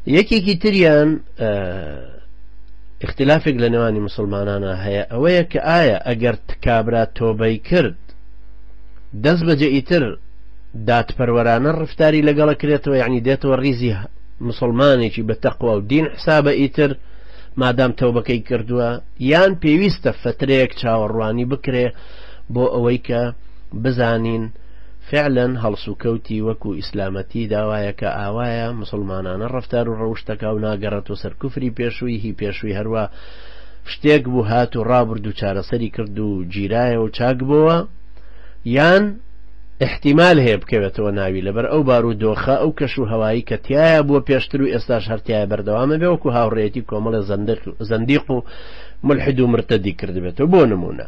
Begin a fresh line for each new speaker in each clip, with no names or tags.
یەکێکی تریان اختلافێک لە نێوانی مسلمانانە هەیە ئەوەیە کە ئایا ئەگەر تکابرا تۆبەی کرد دەست بەجێ ئیتر دادپەروەرانە ڕفتاری لەگەڵە کرێتەوە یعنی دێتەوە ریزی مسلمانێکی بە تەقوا و دین حسابە ئیتر مادام تەوبەکەی کردووە یان پێویستە فترەیەک چاوەڕوانی بکرێ بۆ ئەوەی کە بزانین فعلا هەڵسوکەوتی وەکو ئیسلامەتی داوایە کە ئاوایە موسڵمانانە ڕەفتارو ڕەوشتەکاو ناگەڕێتۆ سەر کوفری پێشووی هی پێشووی هەروا شتێک بوو هات و ڕابرد و چارەسەری کرد و گیرایەوەو چاک بۆوە یان ئیحتیمال هەیە بکەوێتەوە ناوی لەبەر ئەو بارو دۆخە ئەو کەش و هەوایی کە تیایە بووە پێشتر و ئێستاش هەرتیایە بەردەوامە بێ وەکو هاوڕێیەتی کۆمەڵێ زەندق زەندیق و مولحد و مرتەدی کردبێتەوە بۆ نمونە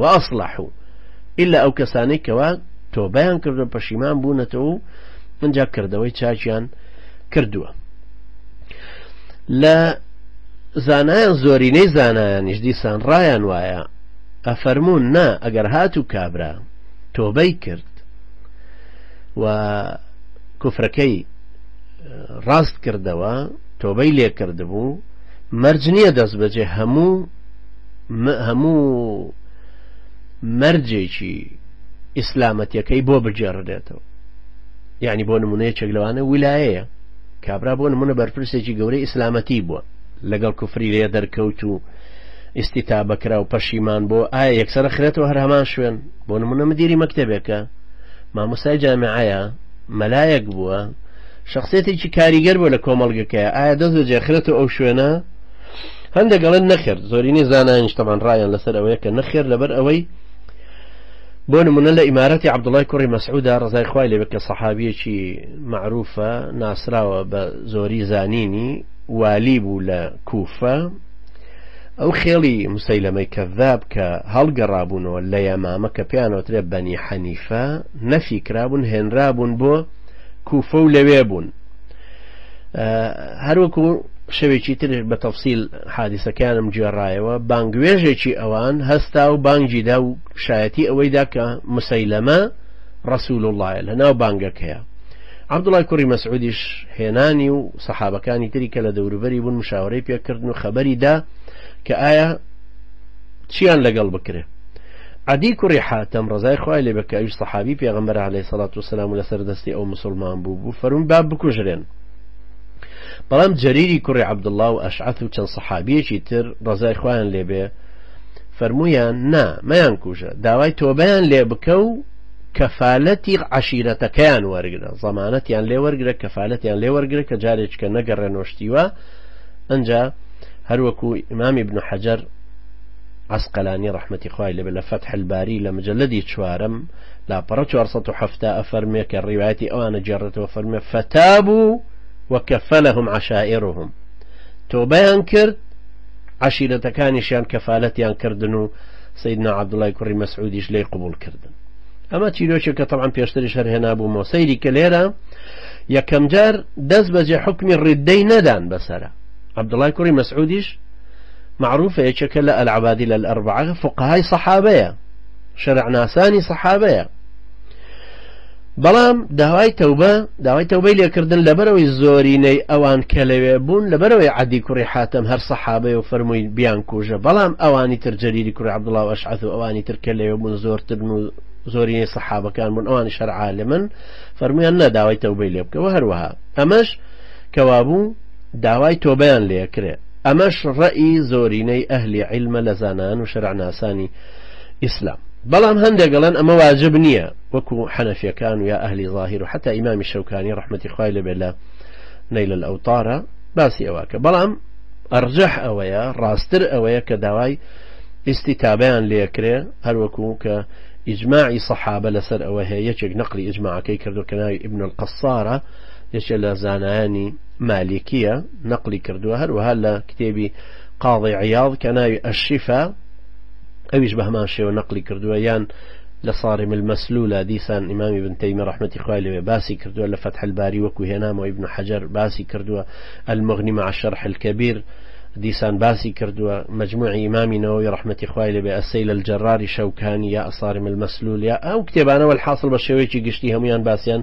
وأصلحو ئیلا ئەو کەسانەی کەوا تۆبەیان کردو پەشیمان بوونەتەوە و ئینجا کردەوەی چاکیان کردووە لە زانایان زۆرینەی زانایانیش دیسان ڕایان وایە ئەفەرمونون نا ئەگەر هات و کابرا تۆبەی کرد و کوفرەکەی ڕاست کردەوە تۆبەی لێکردبوو مەرج نییە دەست بەجێ هەموو هەموو مەرجێکی ئیسلامەتەکەی بۆ بگێڕدێتەوە یعنی بۆ نمونەیەکێک لەوانە ولایەیە کابرا بۆ نمونە بەرپرسێکی گەورەی ئیسلامەتی بووە لەگەڵ کوفری لێ دەرکەوت و ئیستا بەکرا و پەشیمان بۆ ئایا یەکسرە خرێتەوە هەر هەمان شوێن بۆ نمونە مدیری مەکتتەبێکە مامۆسای جامعەیە مەلایەک بووە شخصێتێکی کاریگەر بۆ لە کۆمەڵگەکەی ئایا دەست بەجێخرێتەوە ئەو شوێنە هەندێک ئەڵێن نەخێر زۆرینەی زانایانیش تەمان ڕایان لەسەر ئەوەیە کە نەخێر لەبەر ئەوەی بۆ نمونە لە ئیمارەتی عبدوڵای کوڕی مەسعودا ڕزای خوای لەبێت کە سەحابیەکی معروفە ناسراوە بە زۆری زانینی والی بوو لە کوفە ئەو خێڵی مسەیلەمەی کەذاب کە هەڵگەڕابوونەوە لە یەمامە کە پێیانەوەترێ بەنی حەنیفە نەفی کرابوون هێنرابوون بۆ کوفە و لەوێ بوون هەروەکو شەوێکی تر بە تەفسیل حادیسەکانم گوێڕایەوە بانگوێژێکی ئەوان هەستا و بانگیدا و شایەتی ئەوەیدا کە مسەیلەمە ڕسول وڵایە لە ناو بانگەکەیە عبدوڵای کوڕی مەسعودیش هێنانی و سەحابەکانی تری کە لە دەوروبەری بوون مشاورەی پێکردن و خەبەریدا کە ئایا چیان لەگەڵ بکرێت عەدی کوڕی حاتەم ڕەزای خوای لێ بێ کە ئەویش سەحابی پێغەمبەرە عەلەیهی سەڵات و سەلام و لەسەر دەستی ئەو موسوڵمان بوو بوو فەرمووی با بکوژرێن بەڵام جەریری کوڕی عەبدوڵڵا و ئەشعەث و چەند سەحابیەکی تر ڕەزای خوایان لێ بێ فەرموویان نا مەیان کوژە داوای تۆبەیان لێ بکە و کەفالەتی عشیرەتەکەیان وەرگرە زەمانەتیان لێ وەرگرە کەفالەتیان لێ وەرگرە کە جارێککە نەگەڕێ نۆشتیوە ئەجا هەروەکو ئیمامی بن حەجەر عەسقەلانی ڕەحمەتی خوای لێبێ لە فەتح الباری لە مجەلەدی چوارەم لاپەڕە چوار سەد و حەفتا ئەفەرموێ کە ڕیوایەتی ئەوان ئەگێڕێتەوە فەرموێ فەتابوو وکەفەلەهم عەشائرهم تۆبەیان کرد عەشیرەتەکانیشیان کەفالەتیان کردن و سیدنا عەبدوڵای کوڕی مەسعودیش لێی قبول کردن ئەمە چیرۆکی کە طبعا پێشتریش هەر هێنابوومەوە سەیری کە لێرە یەکەمجار دەست بەجێ حکمی ڕیددەی نەدان بەسرە عەبدوڵای کوڕی مەسعودیش مەعروفە یەکێکە لە العبادلە الاربعە فقهای صحابەیە شەرعناسانی صحابەیە بەڵام داوای تەوبە داوای تەوبەی لێکردن لەبەرەوەی زۆرینەی ئەوان کە لەوێ بوون لەبەرەوەی عادی کوڕی حاتم هەر سەحابەی و فەرمووی بیان کوژە بەڵام ئەوانی تر جەریری کوڕ عبدڵاو ئەشعەت و ئەوانی تر کە لەوێ بوون زۆرتر و زۆرینەی سەحابەکان بوون ئەوانی شەرعاالە من فەرمویان نەداوای تەوبەی لێ بکەوە هەروەها ئەمەش کەوابوو داوای تۆبیان لێکرێت ئەمەش ڕەئی زۆرینەی ئەهلی عیلمە لە زانایان و شەرعناسانی ئیسلام، بەڵام هەندێک ئەڵێن ئەمە واجب نیە وەکو حەنەفیەکان و یا ئەهلی ظاهیر و حەتا ئیمامی شەوکانی ڕەحمەتی خوای لێ بێت لە نەیل الاوطارا باسی ئەوە کە بەڵام ئەڕجەح ئەوەیە ڕاستر ئەوەیە کە داوای ئیستیتابەیان لێ کرێ هەروەکو کە ئیجماعی صحابە لەسەر ئەوە هەیە یەکێک نەقلی ئیجماعەکەی کردو کە ناوی ابن القصارە یەکێ لە زانایانی مالکیە، نەقڵی کردووە، هەروەها لە کتێبی، قاضی عیاض، کە ناوی، الشفا، ئەویش بەهەمان شێوە نەقڵی کردووە، یان لە، صارم المسلول، ە، دیسان ئیمام ابن تیمیە ڕەحمەتی خوای لێ بێ باسی کردووە، لە، فتح الباری، وەکو هێنامەوە ابن حجر باسی کردووە، المغنی مع الشرح الکبیر، دیسان باسی کردووە، مجموعی ئیمامی نەوەوی ڕەحمەتی خوای لێ بێ، السیل الجرار، ی شەوکانی، یا، الصارم المسلول، یا، ئەو کتێبانە، والحاصل بە شێوەیەکی گشتی هەموویان باسیان،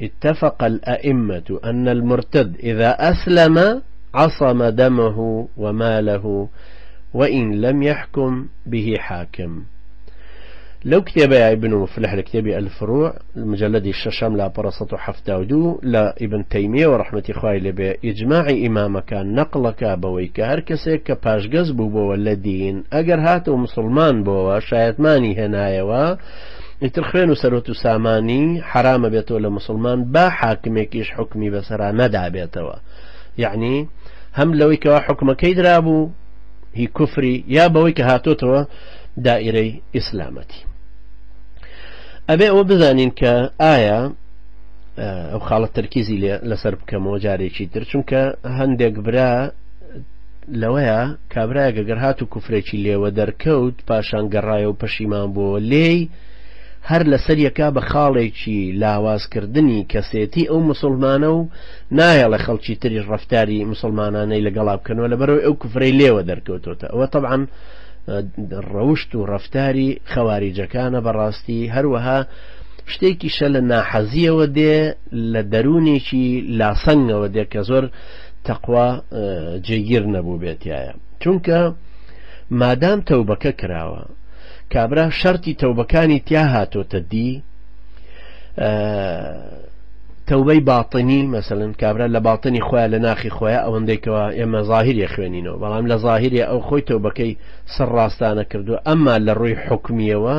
اتفق الائمە ان المرتد اذا اسلم عصم دمه وماله وان لم يحكم به حاکم لەو کتێبەیە ئیبن مفلح لە کتێبی الفروع مجلدی شەشەم لاپەڕە 1970 لە ئیبن تەیمیە و ڕحمەتی خوای لەبێ ئیجماعی ئیمامەکان نەقڵەکە بەوەی کە هەر کەسێک کە پاشگەز بووبەوە لە دین ئەگەر هاتەوە مسلمان بۆەوە شایەتمانی هێنایەوە ئیتر خوێن و سەروەت و سامانی حەرامە بێتەوە لە مسلمان با حاکمێکیش حکمی بەسەرا نەدابێتەوە یعنی هەم لەوەی کەوا حکومەکەی درابوو هی کوفری یا بەوەی کە هاتۆتەوە دائرەی ئیسلامەتی ئەبێ ئەوە بزانین کە ئایا ئەو خاڵە تەرکیزی لەسەر بکەمەوە جارێکی تر چونکە هەندێک برا لەوەیە کابرایەک ئەگەر هات و کوفرێکی لێوە دەرکەوت پاشان گەڕایە و پەشیمان بووەوە لێی، هەر لەسەر یەکا بە خاڵێکی لاواز کردنی کەسێتی ئەو موسوڵمانە و نایەڵێ خەڵکی تریش ڕەفتاری موسوڵمانانەی لەگەڵا بکەنەوە لەبەرئەوەی ئەو کوفرەی لێوە دەرکەوتۆتە ئەوە تەبعەن ڕەوشت و ڕەفتاری خەواریجەکانە بەڕاستی هەروەها شتێکیشە لە ناحەزیەوە دێ لە دەروونێکی لاسەنگەوە دێ کە زۆر تەقوا جێگیر نەبووبێتایە چونکە مادام تەوبەکە کراوە کابرا شەرتی تەوبەکانی تیا هاتۆتە دی تەوبەی باتنی مەسەن کابرا لە باتنی خۆیان لە ناخی خۆیان ئەوەندێکەوە ئێمە ظاهریە خوێنینەوە بەڵام لە ظاهریە ئەو خۆی تەوبەکەی سەر ڕاستانە کردو ئەمما لە ڕووی حکمیەوە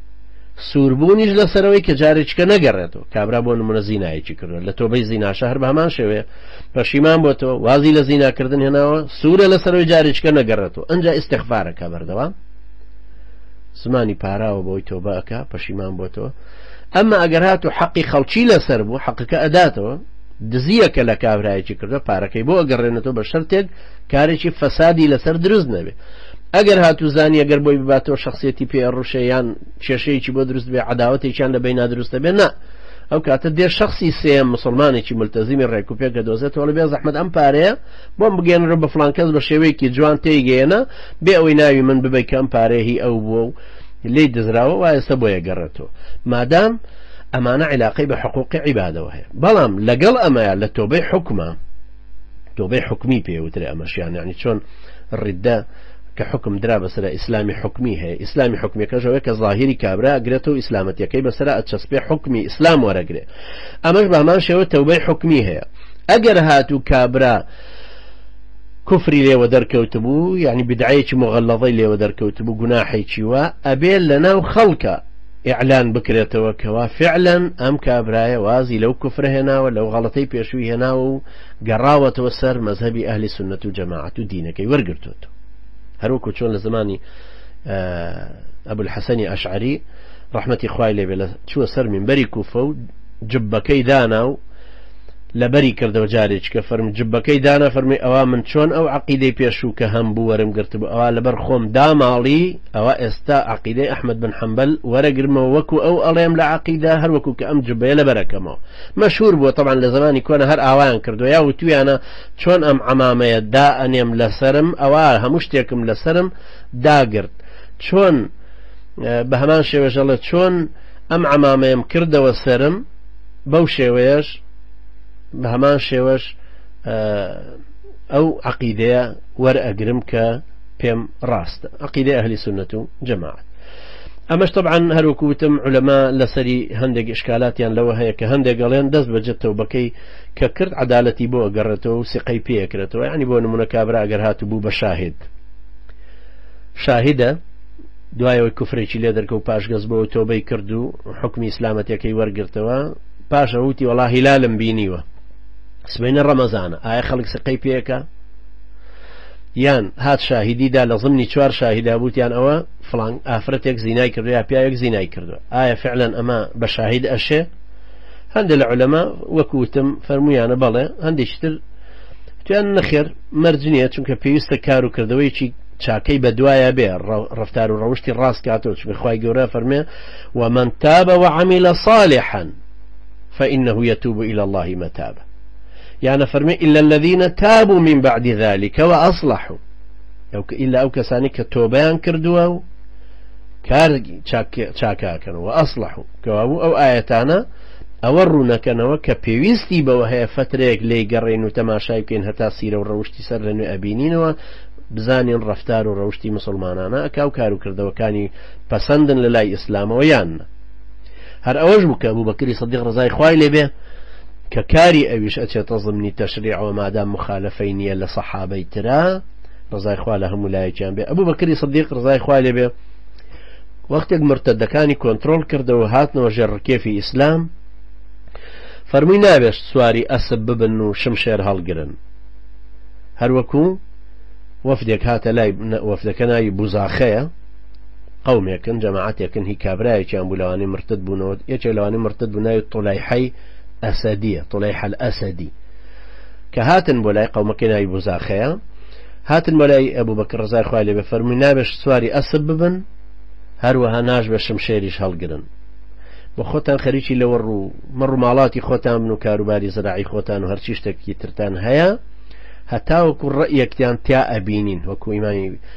سووربوونیش لەسەرەوەی کە جارێکیکە نەگەڕێتەوە، کابرا بۆ نموونە زینایەکی کردووە، لە تۆبەی زیناشە هەر بە هەمان شێوەیە پەشیمان بۆتەوە، وازی لە زیناکردن هێناوە، سوورە لەسەرەوەی جارێکیکە نەگەڕێتەوە، ئەنجا ئیستیغفار ئەکا بەردەوام، زمانی پاراوە بەوەی تۆبە ئەکا پەشیمان بۆتەوە، ئەمما ئەگەر هاتوو حەقی خەڵکی لەسەر بوو حەقەکە ئەداتەوە، دزییەکە لە کابرایەکی کردووە پارەکەی بۆ ئەگەڕێنێتەوە بە شەرتێک کارێکی فەسادی لەسەر دروست نەبێ ئەگەر هاتو زانی ئەگەر بۆی بباتەوە شخصیەتی پێ ڕوشە یان کێشەیەکی بۆ دروست بێ عداوتێکیان لە بین نادروستە بێ نا ئەو کاتە دێ شخصی سێ مسلمانێکی ملتەزیمی ڕێک و پێکە دۆزێت تۆڵ بێ زەحمت ئەم پارەیە بۆم بگەێنرە بە فلانکەس بە شێوەیەکی جوان تێیگەیەنە بێ ئەوەی ناوی من ببی کەم پارەیهی ئەو بووە و لی دزراوە وایستا بۆیە گەڕێتەوە مادام ئەمانە عیلاقی بە حقوقی عیبادەوە هەیە بەڵام لەگەڵ ئەمەیە لە تۆبەی حکومە تۆبەی حوکمی پێ وترێ ئەمەش یان یانی چۆن ڕیددە کە حوکم درا بەسەرا ئیسلامی حوکمی هەیە ئیسلامی حوکمیەکەش ئەوەیە کە زاهیری کابرا ئەگرێتەوە ئیسلامەتیەکەی بەسەرا ئەچەسپێ حوکمی ئیسلام وەرەگرێ ئەمەش بە هەمان شێوە تەوبەی حوکمی هەیە ئەگەر هاتوو کابرا کفری لێوە دەرکەوتبوو یعنی بدعەیەکی مغەلەڵەی لێوە دەرکەوتبوو گوناحێکی وە ئەبێ لەناو خەڵکە ئیعلان بکرێتەوە کەوا فیعلەن ئەم کابرایە وازی لەو کوفرە هێناوە لەو غەڵەتەی پێشووی هێناوە و گەڕاوەتەوە سەر مەزهەبی ئەهلی سوننەت و جەماعەت و دینەکەی وەرگرتووەتەوە هەروەکو چۆن لە زمانی ئەبو الحەسەنی ئەشعری ڕەحمەتی خوای لێ بێ لە چووە سەر منبەری کوفە و جبەکەی دانا و لەبەری کردەوە جارێککە فەرم جبەکەی دانا فەرمی ئەوە من چۆن ئەو عقیدەی پێشوو کە هەم بوو وەرم گرتبوو ئەوە لەبەر خۆم داماڵی ئەوا ئێستا عەقیدەی ئەحمەد بن حەمبەل وەرەگرمەوە وەکو ئەو ئەڵێم لە عەقیدە هەر وەکو کە ئەم جبەیە لەبەر ئەکەمەوە مەشهور بووە تەبعەن لە زەمانی کۆنە هەر ئاوایان کردوە یا وتویانە چۆن ئەم عەمامەیە دا ئەنێم لەسەرم ئەوا هەموو شتێکم لەسەرم داگرت چۆن بە هەمان شێوەش ئەڵێ چۆن ئەم عەمامەیەم کردەوە سرم بەو شێوەیەش بە هەمان شێوەش ئەو عەقیدەیە وەرئەگرم کە پێم ڕاستە عەقیدەی ئەهلی سوننەت و جەماعەت ئەمەش تەبعەن هەر وەکو وتم عولەما لەسەری هەندێک ئشکالاتیان لەوە هەیە کە هەندێک ئەڵێن دەست بەجێ تەوبەکەی کە کرد عەدالەتی بۆ ئەگەڕێتەوە و سیقەی پێ ئەکرێتەوە یانی بۆ نمونە کابرا ئەگەر هاتبوو بە شاهد شاهدە دوایەوەی کوفرێکی لێ دەرکە و پاشگەز بۆ تۆبەی کرد و حکمی ئیسلامەتەکەی وەرگرتەوە پاشە وتی وەڵا هیلالم بینیوە سبینە ڕەمەزانە ئایا خەڵک سقەی پێەکە یان هات شاهیدی دا لە ضمنی چوار شاهیدا بوتیان ئەوە فڵان ئافرەتێک زینای کردو یا پیاوێک زینای کردو ئایا فعلا ئەمە بە شاهید ئەشێ هەندێک لە علەما وەکوتم فەرمویانە بەڵێ هەندێکی تر تویان نەخێر مەرج نییە چونکە پێویستە کار و کردەوەیکی چاکەی بە دوایە بێ ڕفتار و ڕەوشتی ڕاست کاتەوە چ بخوای گەورە فەرمێ و من تابە وعمیلە صالحا فإنه يتوب إلى الله متابا یان ئەفەرمێ الا الذین تابوا من بعد ذلك واصلحوا ئەو کە ئیلا ئەو کەسانی کە تۆبیان کردووە و کار چاکاکەن و ئەسلح و کەوابوو ئەو ئاەتانە ئەوە ڕوونەکەنەوە کە پێویستی بەوە هەیە فترەیەک لی گەڕێن و تەماشای بکەین هەتا سیرە و ڕەوشی سەر لە نوێ ئەبینینەوە بزانین ڕفتار و ڕەوشی مسلمانانە ئەکاو کار و کردەوەکانی پەسەندن لە لای ئیسلامەوە یانە هەر ئەوەش بوو کە ئەبوبەکری سدیق ڕزای خوای لێ بێ کە کاری ئەویش ئەچێتە زمنی تەشریعەوە مادام مخالفەی نییە لە سەحابەی ترا ڕزای خوا لە هەموو لایەکیان بێ ئەبوبەکری سدیق ڕزای خوای لێ بێ وەختێک مرتدەکانی کۆنتترۆل کردەوە هاتنەوە ژێر ڕکێفی ئیسلام فەرمووی ناوێشت سواری ئەسب ببن و شم شێر هەڵگرن هەروەکو وەفدێک هاتە لای وەفدەکە ناوی بوزاخەیە قەومێکن جەماعەتێکن هی کابرایەکیان بوو لەوانەی مرتد بوونەوە یەکێک لەوانەی مرتد بوو ناوی طولەیحەی ئەسەدیە طولەیحە الاسدی کە هاتن بۆ لای قەومەکەی ناوی بوزاخەیە هاتن بۆ لای ئەبوو بەکر ڕزای خوای لێ بفەرمووی نابێش سواری ئەسب ببن هەروەها ناش بە شمشێریش هەڵگرن بۆ خۆتان خەریکی لەوە ڕوو مەڕ و ماڵاتی خۆتان بن و کاروباری زراعی خۆتان و هەرچی شتێکی ترتان هەیە هەتاوەکو ڕئەکتیان تیا ئەبینین وەکو ئیمانی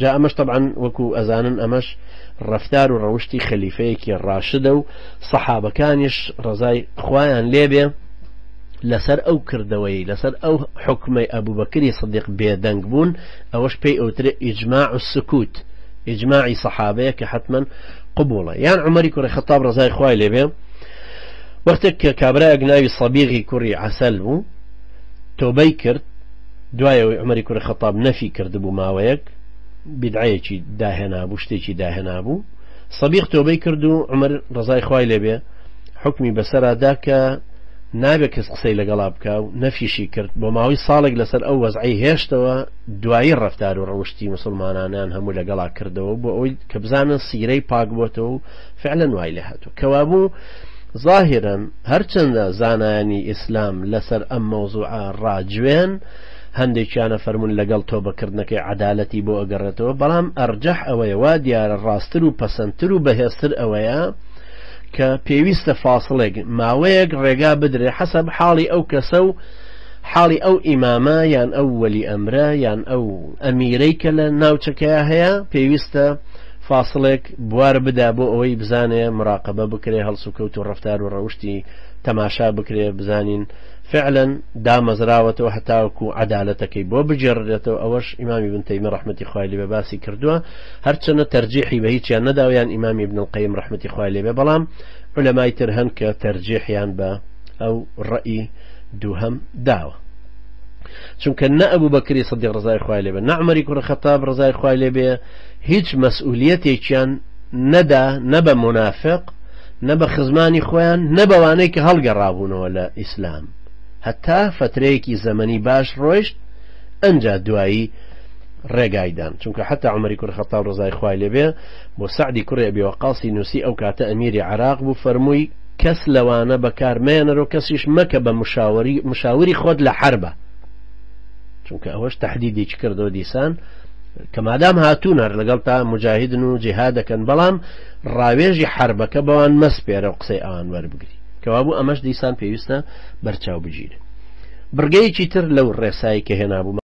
جا ئەمەش تەبعەن وەکو ئەزانن ئەمەش ڕەفتار و ڕەوشتی خەلیفەیەکی ڕاشدە و سەحابەکانیش ڕزای خوایان لێبێ لەسەر ئەو کردەوەی لەسەر ئەو حکومەی ئەبوبەکری سدیق بێدەنگ بوون ئەوەش پێی ئەوترێ ئیجماع و سکوت ئیجماعی سەحابەیە کە حتمما قبوڵە یان عمەری کوڕی خەتاب ڕزای خوای لێبێ وەختێک کە کابراەک ناوی سەبیغی کوڕی عسل بوو تۆبەی کرد دوای ئەوەی عومەری کوڕی خەتاب نەفی کردبوو ماوەیەک بیدعەیەکی داهێنابوو شتێکی داهێنابوو سەبیق تۆبەی کرد و عمر ڕزای خوای لێبێ حکمی بەسەرا دا کە نابێ کەس قسەی لەگەڵا بکە و نەفیشی کرد بۆ ماوەی ساڵێک لەسەر ئەو وەزعی هێشتەوە دوایی ڕفتار و ڕەوشتی مسلمانانیان هەموو لەگەڵا کردەوە بۆ ئەوی کە بزانن سیرەی پاک بۆتەوە و فعلەن وای لە هاتوو کەوابوو زاهیرەن هەرچەندە زانایانی ئیسلام لەسەر ئەم مەوزوعە ڕاجوێن هەندێکیان ئەفەرمون لەگەڵ تۆبەکردنەکەی عەدالەتی بۆ ئەگەڕێتەوە بەڵام ئەرجەح ئەوەیە وا دیارە ڕاستتر و پەسەندتر و بەهێزتر ئەوەیە کە پێویستە فاسڵێک ماوەیەک ڕێگا بدرێ حەسەب حاڵی ئەو کەسە و حاڵی ئەو ئیمامە یان ئەو وەلی ئەمرە یان ئەو ئەمیرەی کە لە ناوچەکەیە هەیە پێویستە فاسڵێک بوار بدا بۆ ئەوەی بزانێ مراقەبە بکرێ هەڵسوکەوت و ڕەفتار و ڕەوشتی تەماشا بکرێ بزانین فعلا دامەزراوەتەوە هەتاوەکو عەدالەتەکەی بۆ بگێڕرێتەوە ئەوەش ئیمام ابن تەیمی ڕەحمەتی خوای لێ بێ باسی کردووە هەرچەنە تەرجیحی بە هیچیان نەداوە یان ئیمام ابن القیم ڕەحمەتی خوای لێ بێ بەڵام عولەمای تر هەن کە تەرجیحیان بە ئەو ڕەئی دووهەم داوە چونکە نە ئەبوو بەکری سەدیق ڕزای خوای لێ بێ نە عومەری کوڕە خەتاب ڕزای خوای لێ بێ هیچ مەسئولیەتێکیان نەدا نە بە مونافق نە بە خزمانی خۆیان نە بەوانەی کە هەڵگەڕابوونەوە لە ئیسلام هەتا فەترەیەکی زەمەنی باش ڕۆیشت ئەنجا دوایی ڕێگایدان چونکە حتا عمری کوڕ خەتاب ڕزای خوای لێبێ بۆ سعدی کوڕێ بێوەقاسی نووسی ئەو کاتە ئەمیری عراق بوو فەرمووی کەس لەوانە بەکار مێنەرۆ کەسیش مەکە بە مشاوری مشاوری خۆت لە حربە چونکە ئەوەش تهدیدی کردەوە دیسان کە مادام هاتوون هەر لەگەڵ تا مجاهدن و جیها دەکەن بەڵام ڕاوێژی حربەکە بەوان مەسپێرە و قسەی ئەوان وەربگری کەوابوو ئەمەش دیسان پێویستە بەرچاو بگیرێت بڕگەیەکی تر لەو ڕێسایی کە هێنابوو